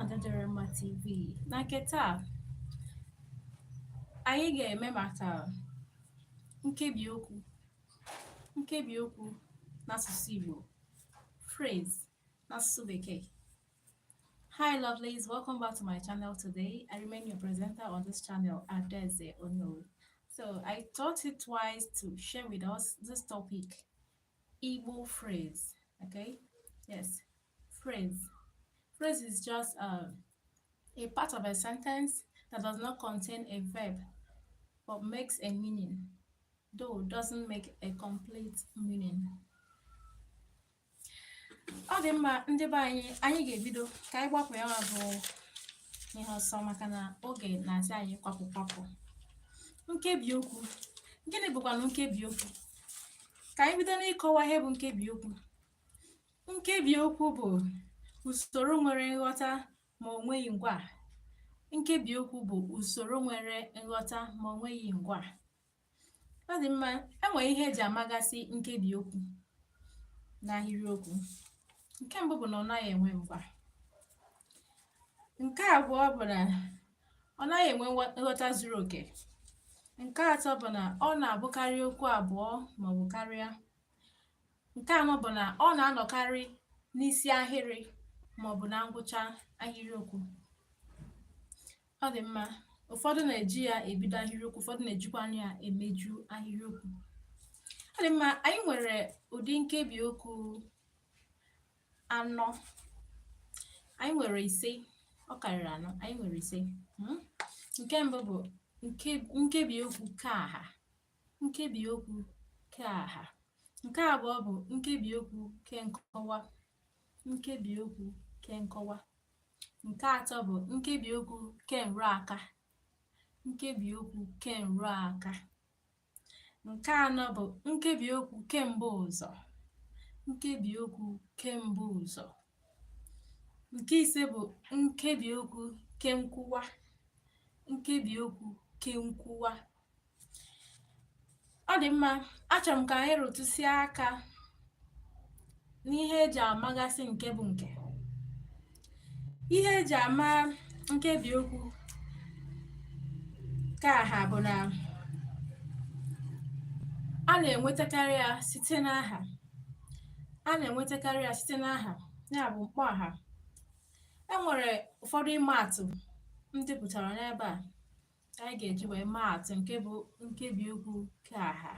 Adaderema TV na nke taa anyị ga-eme maka nkebi okwu nkebi okwu n'asụsụ Igbo phrase n'asụsụ Bekee Hi lovelies, welcome back to my channel today. I remain your presenter on this channel, Adaeze Ono. So I thought it wise to share with us this topic, Igbo phrase. Okay? Yes, Phrase. Phrase is just a, a part of a sentence that does not contain a verb but makes a meaning, though doesn't make a complete meaning. ọ dị mma ndị be anyị anyị ga-ebido ka anyị gbapụ ya bụ ihe ọsọ maka na oge na-asị anyị kwapụ kwapụ nkebi okwu gịnị bụkwanụ nkebi okwu ka anyị bido n'ịkọwa ihe bụ nkebi okwu Nkebi okwu bụ usoro nwere nghọta ma o nweghị ngwa. Nkebi okwu bụ usoro nwere nghọta ma o nweghị ngwa. Ọ dị mma, e nwere ihe eji amagasị nkebi okwu n'ahịrịokwu. Nke mbụ bụ na ọ naghị enwe ngwa. Nke abụọ bụ na ọ naghị enwe nghọta zuru oke. Nke atọ bụ na ọ na-abụkarị okwu abụọ maọbụ karịa. Nke anọ bụ na ọ na-anọkarị n'isi ahịrị ma ọ bụ na ngwụcha ahịrịokwu. Ọ dị mma, ụfọdụ na-eji ya ebido ahịrịokwu, ụfọdụ na-ejikwanụ ya emeju ahịrịokwu. Ọ dị mma, anyị nwere ụdị nkebi okwu anọ. Anyị nwere ise, ọ karịrị anọ, anyị nwere ise. Hmm? Nke mbụ bụ nkebi okwu keaha. Nkebiokwu keaha Nke abụọ bụ nkebiokwu kenkọwa nkebiokwu kenkọwa Nke atọ bụ nkebiokwu kenrụaka nkebiokwu kenrụaka Nke anọ bụ nkebiokwu kembuụzọ nkebiokwu kembuụzọ Nke ise bụ nkebiokwu kenkwuwa nkebiokwu kenkwuwa ọ dị mma achọrọ m ka anyị rụtụsịa aka n'ihe eji amagasị nke bụ nke ihe eji ama nkebi okwu keaha bụ na a na-enwetakarị ya site n'aha a na-enwetakarị ya site n'aha ya bụ mkpọaha e nwere ụfọdụ ịma atụ m depụtara n'ebe a anyị ga-eji wee maa atụ nke bụ nkebi okwu keaha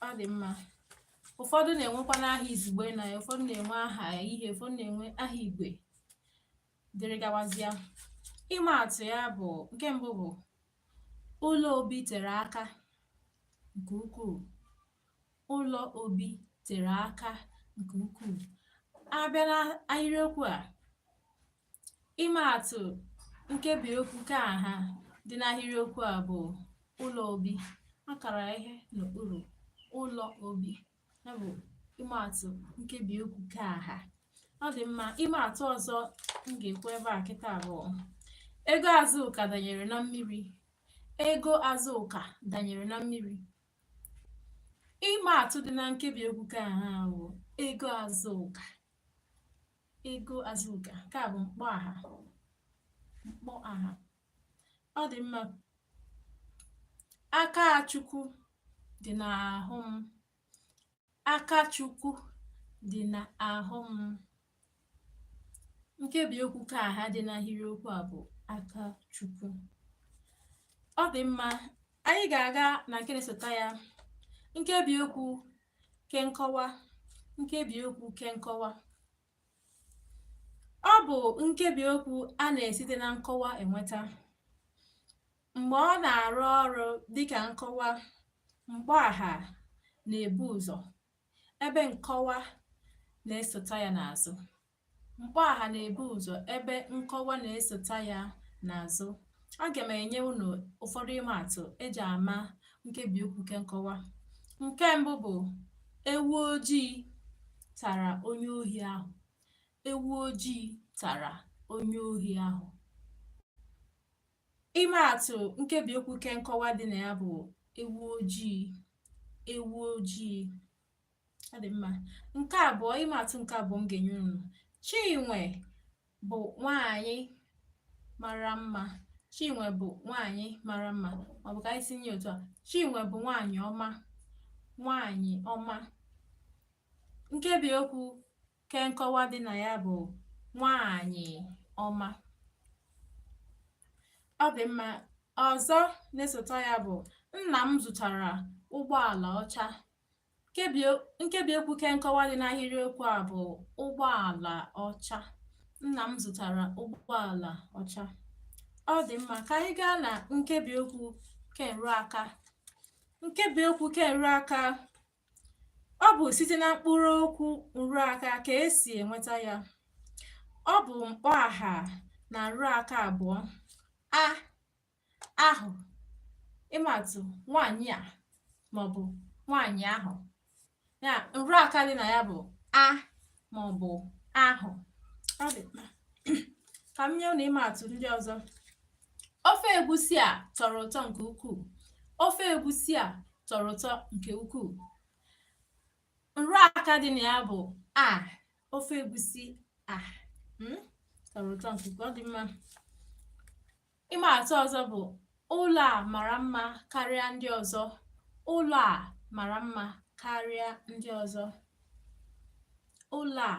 ọ dị mma ụfọdụ na-enwekwanụ aha izugbe na ya ụfọdụ na-enwe aha ihe ụfọdụ na-enwe aha igwe dịrị gawazịa ịma atụ ya bụ nke mbụ bụ ụlọ obi tere aka nke ukwuu ụlọ obi tere aka nke ukwuu a bịa n'ahịrịokwu a Ịma atụ nkebi okwu keaha dị n'ahịrịokwu a bụ ụlọ obi a kara ihe n'okpuru ụlọ obi ya bụ ịma atụ nkebi okwu keaha ọ dị mma ịma atụ ọzọ m ga-ekwu ebe a kịta a bụ ego Azụka danyere na mmiri ego Azụka danyere na mmiri ịma atụ dị na nkebi okwu keaha bụ ego Azụka Ego Azụka, nke a bụ mkpọaha mkpọaha. Ọ dị mma. Aka Chukwu dị n'ahụ m. Aka Chukwu dị n'ahụ m. Nkebi okwu keaha dị n'ahịrịokwu a bụ aka Chukwu. Ọ dị mma. Anyị ga-aga na nke na-esota ya. Nkebi okwu Kenkọwa nkebiokwu kenkọwa ọ bụ nkebiokwu a na-esite na nkọwa enweta mgbe ọ na-arụ ọrụ dịka nkọwa mkpọaha na-ebu ụzọ ebe nkọwa na-esota ya n'azụ Mkpọaha na-ebu ụzọ ebe nkọwa na-esota ya n'azụ. Aga m enye unu ụfọdụ ịma atụ e ji ama nkebiokwu kenkọwa. Nke mbụ bụ ewu ojii tara onye ohi ahụ. Ewu ojii tara onye ohi ahụ. Ịma atụ nkebiokwu kenkọwa dị na ya bụ ewu ojii. Ewu ojii. ọ dị mma nke abụọ ịma atụ nke abụọ m ga-enye unu Chinwe bụ nwanyị mara mma Chinwe bụ nwanyị mara mma ọ bụ ka anyị tinye otu a Chinwe bụ nwanyị ọma nwanyị ọma nkebi okwu kenkọwa dị na ya bụ nwanyị ọma ọ dị mma ọzọ na-esota ya bụ nna m zụtara ụgbọala ọcha Nkebiokwu kenkọwa dị n'ahịrịokwu a bụ ụgbọala ọcha. Nna m zụtara ụgbọala ọcha. Ọ dị mma ka anyị gaa na nkebiokwu kenrụaka. Nkebiokwu kenrụaka ọ bụ site na mkpụrụokwu nrụaka ka e si enweta ya. Ọ bụ mkpọaha na nrụaka abụọ. A ahụ ịma atụ nwaanyị a maọbụ nwaanyị ahụ ya nrụ aka dị na ya bụ a maọbụ ahụ ọ dị mkpa ka m nye unu ịma atụ ndị ọzọ ofe egusi a tọrọ ụtọ nke ukwuu ofe egusi a tọrọ ụtọ nke ukwuu nrụ aka dị na ya bụ a ofe egusi a hmm? tọrọ ụtọ nke ukwuu ọ dị mma Ịma atụ ọzọ bụ ụlọ a mara mma karịa ndị ọzọ. Ụlọ a mara mma karịa ndị ọzọ. Ụlọ a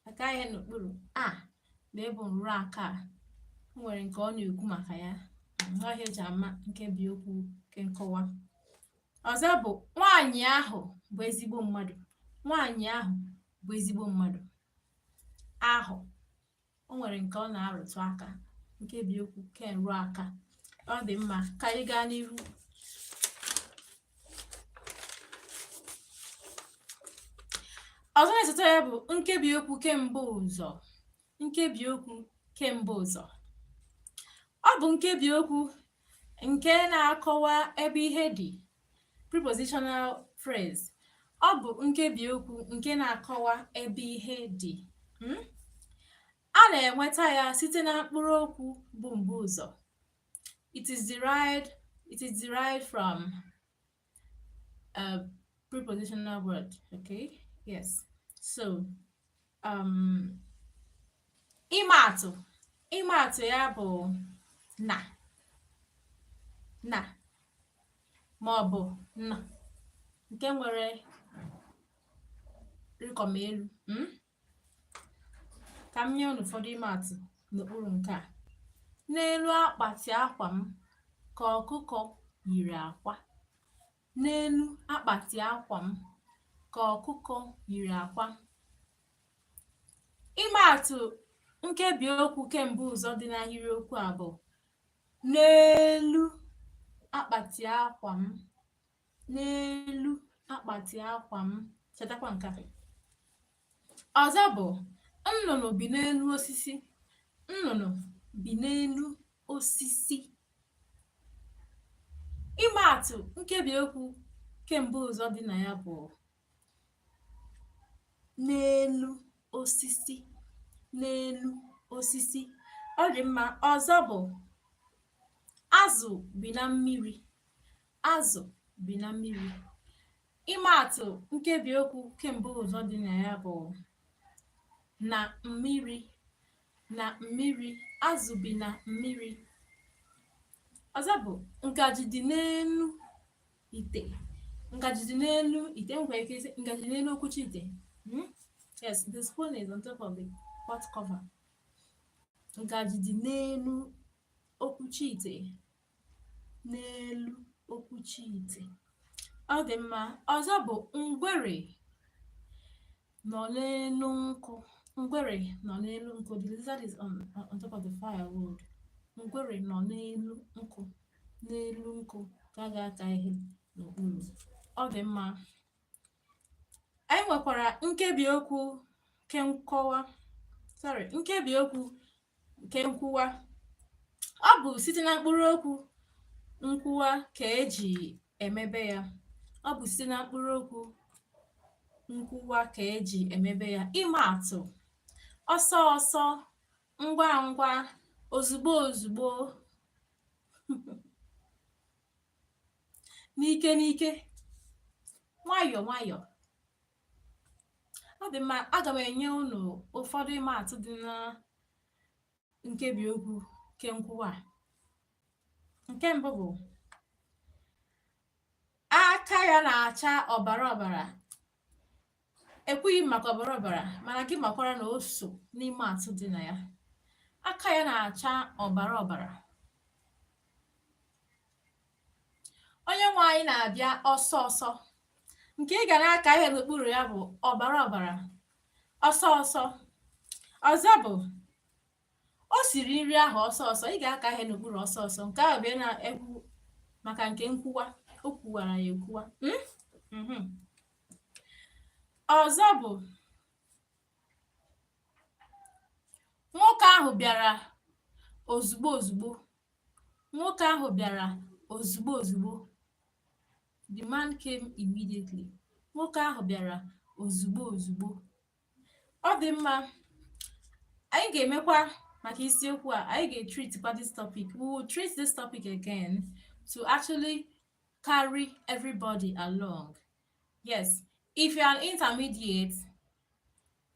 aka ihe n'okpuru a ebe ọ bụ nrụ aka o nwere nke ọ na-ekwu maka ya ọ ihe e ji ama nkebi okwu kenkọwa ọzọ bụ nwaanyị ahụ bụ ezigbo mmadụ nwaanyị ahụ bụ ezigbo mmadụ ahụ o nwere nke ọ na-arụtụ aka nkebi okwu kenrụaka ọ dị mma ka anyị gaa n'ihu ọzọ na-esote ya bụ nkebi okwu kembuụzọ nkebi okwu kembuụzọ ọ bụ nkebi okwu nke na-akọwa ebe ihe dị prepositional phrase ọ bụ nkebi okwu nke na-akọwa ebe ihe dị hmm? a na-enweta ya site na mkpụrụ okwu bụ mbuụzọ it is derived it is derived from a prepositional word okay yes so ịma atụ ịma atụ ya bụ na na ma ọ bụ na nke nwere rịkọm elu hmm? ka m nye unu ụfọdụ ịma atụ n'okpuru nke a n'elu akpati akwa m ka ọkụkọ yiri akwa N'elu akpati akwa m ka ọkụkọ yiri akwa. Ịma atụ nkebi okwu kembuụzọ dị n'ahịrịokwu a bụ n'elu akpati akwa m n'elu akpati akwa m chetakwa nke a Ọzọ bụ nnụnụ bi n'elu osisi. Nnụnụ bi n'elu osisi. Ịma atụ nkebiokwu kembuụzọ dị na ya bụ n'elu osisi n'elu osisi. Ọ dị mma. Ọzọ bụ azụ bi na mmiri. Azụ bi na mmiri. Ịma atụ nkebi okwu kembuụzọ dị na ya bụ na mmiri na mmiri azụ bi na mmiri. Ọzọ bụ ngaji dị n'elu ite. Ngaji dị n'elu ite nwere ike ịsị ngaji dị n'elu okwuchi ite. Hmm? Yes, the spoon is on top of the pot cover. Ngaji dị n'elu okwuchi ite. n'elu okwuchi ite ọ dị mma ọzọ bụ ngwere nọ n'elu nkụ ngwere nọ n'elu nkụ the lizard is on, on top of the firewood ngwere nọ n'elu nkụ n'elu nkụ ka a ga-aka ihe n'okpuru ọ dị mma anyị nwekwara nkebi okwu kenkọwa sorry nkebi okwu kenkwuwa ọ bụ site na mkpụrụ okwu nkwuwa ka eji emebe ya ọ bụ site na mkpụrụ okwu nkwuwa ka eji emebe ya ịma atụ ọsọ ọsọ ngwa ngwa ozugbo ozugbo n'ike n'ike nwayọọ nwayọọ ọ dị mma aga m enye unu ụfọdụ ịma atụ dị na nkebi okwu kenkwuwa nke mbụ bụ aka ya na-acha ọbara ọbara ekwughị m maka ọbara ọbara mana gị makwara na o so n'ịma atụ dị na ya aka ya na-acha ọbara ọbara onye nwe anyị na-abịa ọsọ ọsọ nke ị ga na-aka ihe n'okpuru ya bụ ọbara ọbara ọsọ ọsọ ọzọ bụ o siri nri ahụ ọsọ ọsọ ị ga-aka ihe n'okpuru ọsọ ọsọ nke ahụ bụ na-ekwu maka nke nkwuwa o kwuwara ya ekwuwa hmm? mhm. ọzọ bụ nwoke ahụ bịara ozugbo ozugbo nwoke ahụ bịara ozugbo ozugbo the man came immediately nwoke ahụ bịara ozugbo ozugbo ọ dị mma anyị ga-emekwa maka isiokwu a anyị ga-etreatkwa this topic we will treat this topic again to actually carry everybody along yes if you are an intermediate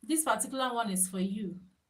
this particular one is for you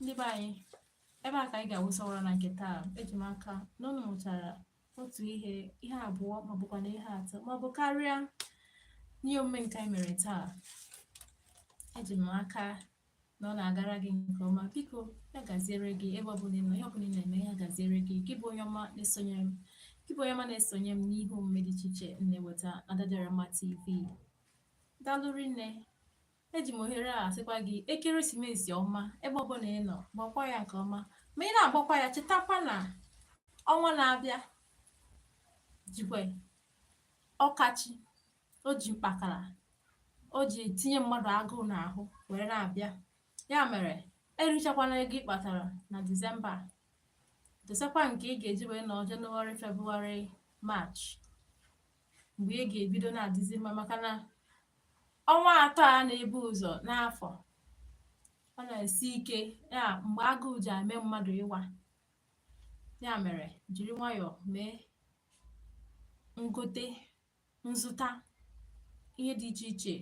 ndị be anyị ebe a ka anyị ga-awụsa ọwara na nke taa eji m aka na ụnụ mụtara otu ihe ihe abụọ maọbụkwa na ihe atọ maọbụ karịa n'ihe omume nke anyị mere taa eji m aka na ọ na-agara gị nke ọma biko ya gaziere gị ebe ọbụla ị nọ ihe ọbụla ị na-eme ya gaziere gị gị bụ onye ọma na-esonye m gị bụ onye ọma na-esonye m n'ihe omume dị iche iche na-eweta na Adadịọramma TV daalụ rinne Eji m ohere a sịkwa gị ekeresimesi ọma ebe ọbụla ị nọ gbakwa ya nke ọma ma ị na-agbakwa ya chetakwa na ọnwa na-abịa jikwa ọkachi o ji mkpakara o ji tinye mmadụ agụụ n'ahụ were na-abịa ya mere erichakwana ego ị kpatara na disemba dosekwa nke ị ga-eji wee nọ jenụwarị febụwarị maachị mgbe ị ga-ebido na-adịzi mma maka na ọnwa atọ a na-ebu ụzọ n'afọ ọ na-esi ike ya mgbe agụụ ji eme mmadụ ịwa ya mere jiri nwayọọ mee ngote nzụta ihe dị iche iche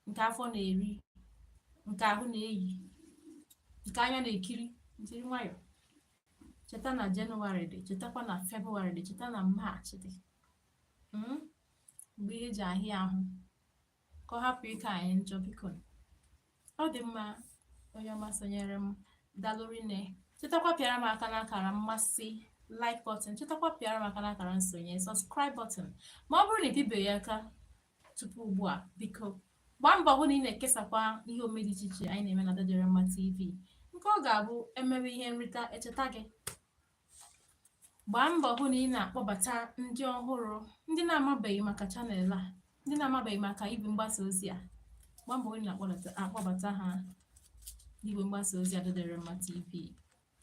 nke afọ na-eri nke ahụ na-eyi nke anya na-ekiri jiri nwayọọ cheta na jenụwarị dị chetakwa na febụwarị dị cheta na maachị dị hmm? mgbe ihe ji ahịa ahụ ka ọ hapụ ịka anyị njọ biko ọ dị mma onye ọma sonyere m daalụ rinne chetakwa pịara m aka n'akara mmasị like button chetakwa pịara m aka n'akara nsonye subscribe button ma ọ bụrụ na ị pịbeghị aka tupu ugbu a biko gbaa mbọ hụ na ị na-ekesakwa ihe omume dị iche iche anyị na-eme na Adadịọramma TV nke ọ ga-abụ e mewe ihe nrita e cheta gị gbaa mbọ hụ na ị na-akpọbata ndị ọhụrụ ndị na-amabeghị maka chanel a ndị na-amabeghị maka igwe mgbasa ozi a gbaa mbọ hụ na akpọbata ha n'igwe mgbasa ozi Adadịọramma TV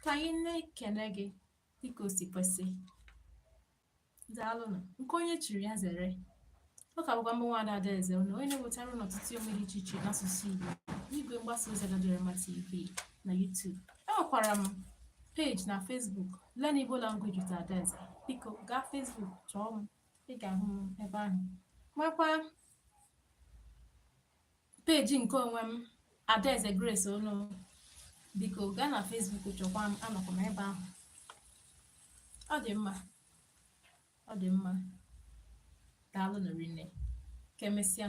ka anyị na-ekene gị dịka o si kwesị Daalụnụ. Nke onye chiri ya zere. Ọ ka bụkwa mụ bụ nwada Adaeze Ono onye na-ewetara unu ọtụtụ ihe omume dị iche iche n'asụsụ Igbo n'igwe mgbasa ozi Adadịọramma TV na YouTube. Enwekwara m peji na Facebook Learn Igbo Language with Adaeze. Biko gaa Facebook chọọ m, ị ga-ahụ m ebe ahụ. Makwa Peji nke onwe m Adaeze Grace Ono biko gaa na Facebook chọkwa m anọkwa m ebe ahụ ọ dị mma ọ dị mma daalụnụ rinne ka e mesịa